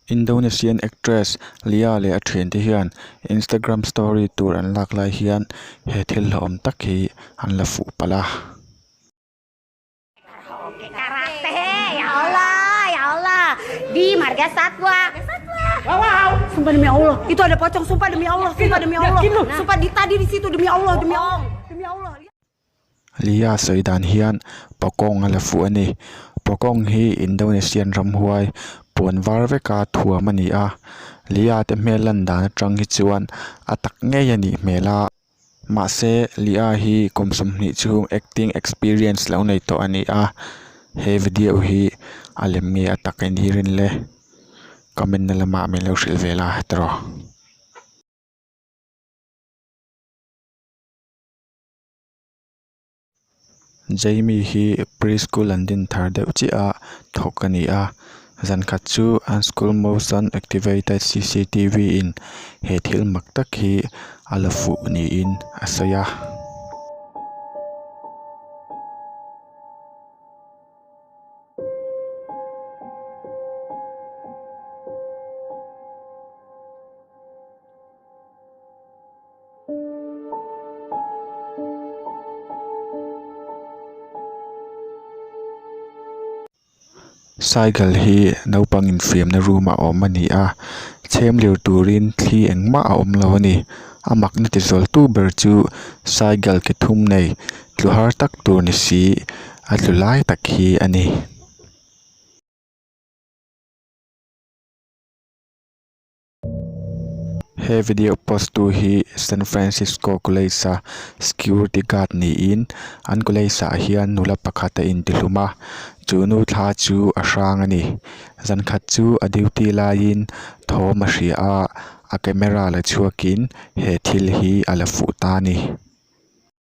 Indonesian actress Lia leh a thian te hian Instagram story tur an lak lai hian he thil hlauhawm tak hi an la fuh palh a. Lia sawi dan hian Pakawng a la fuh a ni. Pakawng hi Indonesian ram huai puan var veka thuam a ni a. Lia te hmel lan dan atang hi chuan a tak ngei a nih hmel a. Mahse, Lia hi kum sawmhnih chhung acting experience lo nei tawh a ni a, he video hi a lem nge a tak in hi rin le comment na lamah min lo hrilh ve la tiraw. Jamie hi pre-school an din thar deuh chiah a thawk a ni a, zan khat chu an school motion activated cctv in he thil mak tak hi a la fuh niin a sawi a. Cycle hi naupang infiamna room ah a awm a ni a chhem lir turin thli eng mah a awm lo a ni a makna ti zual tu ber chu cycle ke thum nei tlu har tak tur ni si a tlu lai tak hi a ni. He video post tu hi San Francisco College-a security guard niin an college-ah hian nula pakhat a inti hlum a, chu nu thla chu a hrang a ni. Zan khat chu a duty laiin thawm a hria a, a camera la chhuakin he thil hi a la fuh ta a ni.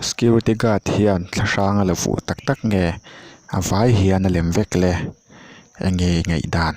Security guard hian thla hrang a la vuh tak tak nge a vai hian a lem vek le eng nge i ngaih dan.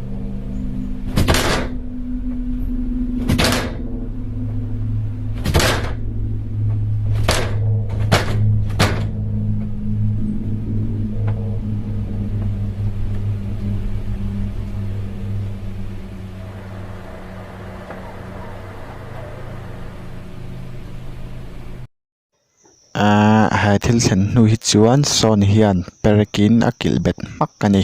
Aaa he thil thlen hnu hi chuan sawn hian perekin a kilh bet hmak a ni.